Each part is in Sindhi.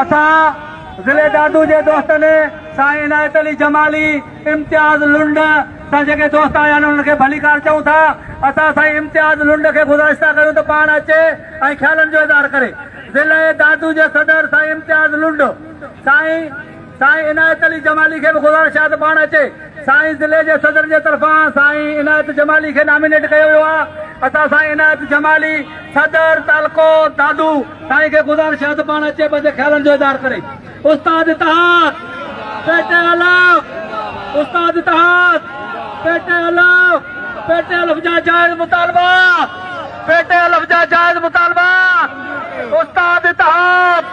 اسان ضلعي دادو جي دوستن سائين عنايت علي جمالي امتياز لنڊ سان جيڪي دوست آيا آهن انهن کي ڀليڪار چئون ٿا اسان سائين امتياز لنڊ کي گذارش ٿا ڪريون ته پاڻ اچي ۽ خيالن جو اظهار ڪري ضلعي دادو جي صدر سائين امتياز لنڊ سائين سائين عنايت علي جمالي کي به گذارش آهي ته پاڻ اچي سائين ضلعي جي صدر جي طرفان سائين عنايت جمالي کي نامينيٽ ڪيو ويو آهي اسان سائين عنايت جمالي صدر تعلقو دادو سائين کي گذارش آهي ته پاڻ اچي پنهنجي خيالن جو اظهار ڪري استاد اتحاد پيٽي الف استاد اتحاد پيٽي الف پيٽي الف جا جائز مطالبا پيٽي الف جا جائز مطالبا استاد اتحاد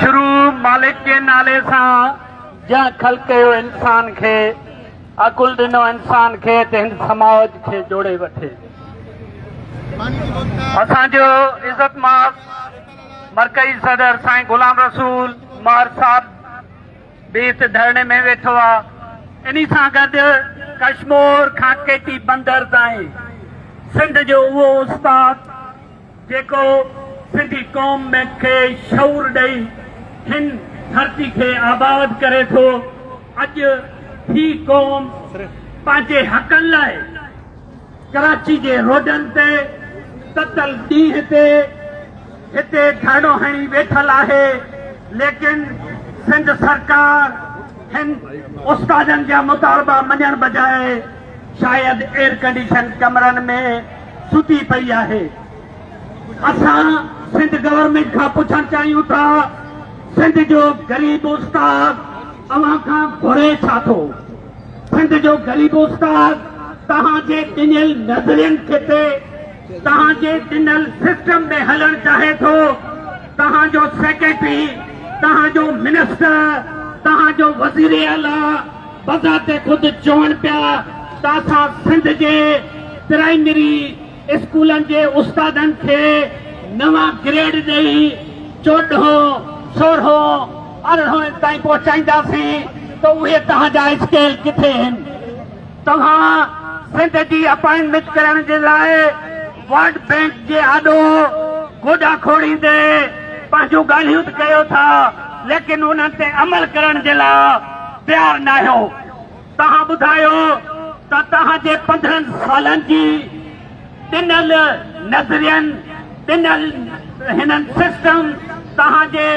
شروع مالڪ جي نالي سان جنهن خلق ڪيو انسان کي عقل ڏنو انسان کي ته هن سماج کي جوڙي وٺي اسان جو عزت ماف مرڪزي صدر سائين غلام رسول مار صاحب به هت ڌرڻي ۾ ويٺو آ اني سان گڏ ڪشمور کان ڪيٽي بندر تائين سنڌ جو اهو استاد جيڪو سنڌي قوم ۾ کي شعور ڏئي هن ڌرتي کي آباد ڪري ٿو اڄ هي قوم پنهنجي حقن لاء ڪراچي جي روڊن تي تتل ڏينهن تي هتي ڌرڻو هڻي ويٺل آهي ليڪن سنڌ سرڪار هن استادن جا مطالبا مڃڻ بجاء شايد ايئرڪنڊيشن ڪمرن ۾ ستي پئي آهي. اسان سنڌ گورنمينٽ کان پڇڻ چاهيون ٿا سنڌ جو غريب استاد اوهان کان گهري ڇا ٿو؟ سنڌ جو غريب استاد توهان جي ڏنل نظرين کي تي توهان جي ڏنل سسٽم ۾ هلڻ چاهي ٿو توهان جو سيڪريٽري توهان جو منسٽر توهان جو وزير اعليٰ بذات خود چون پيا ته اسان سنڌ جي پرائمري اسڪولن جي استادن کي نوان گريڊ ڏئي چوڏهون، سورهون، ارڙهن تائين پهچائينداسين ته اهي توهان جا اسڪيل ڪٿي هن؟ توهان سنڌ جي اپائنٽمينٽ ڪرڻ جي لاء ورلڊ بئنڪ جي آڏو گوڏا کوڙيندي پنهنجون ڳالهيون ته ڪيو ٿا ليڪن انهن تي عمل ڪرڻ جي لاء تيار ناهيو. توهان ٻڌايو ته توهان جي پندرهن سالن جي ڏنل نظرين، ڏنل هنن سسٽم توهان جي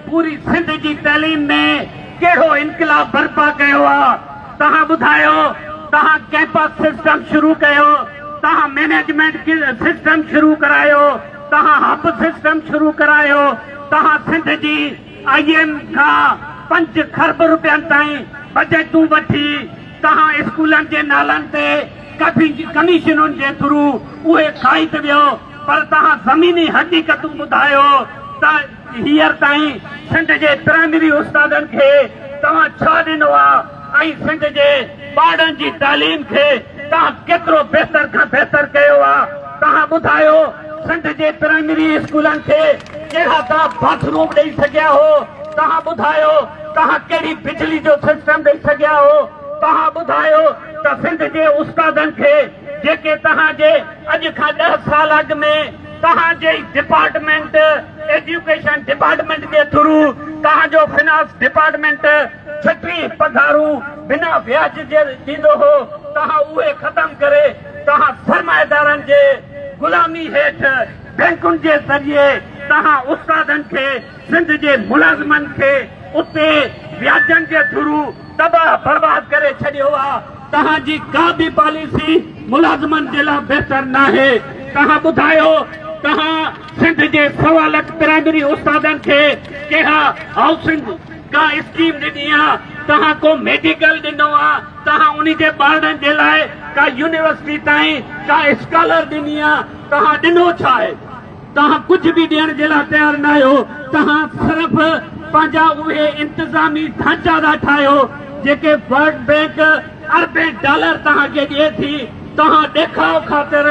پوري سنڌ جي تعليم ۾ ڪهڙو انقلاب برپا ڪيو آ؟ توهان ٻڌايو توهان ڪيمپس سسٽم شروع ڪيو، توهان مينيجمينٽ سسٽم شروع ڪرايو، توهان هب سسٽم شروع ڪرايو، توهان سنڌ جي آء ايم کان پنج کرب روپين تائين بجيٽون وٺي توهان اسڪولن جي نالن تي ڪميشنن جي ٿرو اهي کائي ته ويو پر توهان زميني حقيقتون ٻڌايو ته هينئر تائين سنڌ جي پرائمري استادن کي توهان ڇا ڏنو آ ۽ سنڌ جي ٻارڙن جي تعليم کي توهان ڪيترو بهتر کان بهتر ڪيو آ؟ توهان ٻڌايو سنڌ جي پرائمري اسڪولن کي ڪهڙا توهان باٿ روم ڏئي سگهيا هو؟ توهان ٻڌايو توهان ڪهڙي بجلي جو سسٽم ڏئي سگهيا هو؟ توهان ٻڌايو ته سنڌ جي استادن کي جيڪي توهان جي اڄ کان ڏهه سال اڳ ۾ توهان جي ئي ڊپارٽمينٽ ايڊيوڪيشن ڊپارٽمينٽ جي ٿرو توهان جو فنانس ڊپارٽمينٽ ڇٽيهن پگهارون بنا وياج جي ڏيندو هو توهان اهي ختم ڪري توهان سرمائيدارن جي غلامي هيٺ بينڪن جي ذريعي توهان استادن کي سنڌ جي ملازمن کي اتي وياجن جي ٿرو تباهه برباد ڪري ڇڏيو آ توهان جي ڪا به پاليسي ملازمن جي لا بهتر ناهي توهان ٻڌايو توهان سنڌ جي سوا لک پرائمري استادن کي ڪها هائوسنگ ڪا اسڪيم ڏني آ توهان ڪو ميڊيڪل ڏنو آ توهان انهي جي ٻارڙن جي لاء ڪا يونيورسٽي تائين ڪا اسڪالر ڏني آ توهان ڏنو ڇا آهي توهان ڪجهه به ڏيڻ جي لاء تيار نه آهيو، توهان صرف پنهنجا اهي انتظامي ڍانچا ٿا ٺاهيو جيڪي ورلڊ بئنڪ اربين ڊالر توهان کي ڏئي ٿي، توهان ڏيکاء خاطر.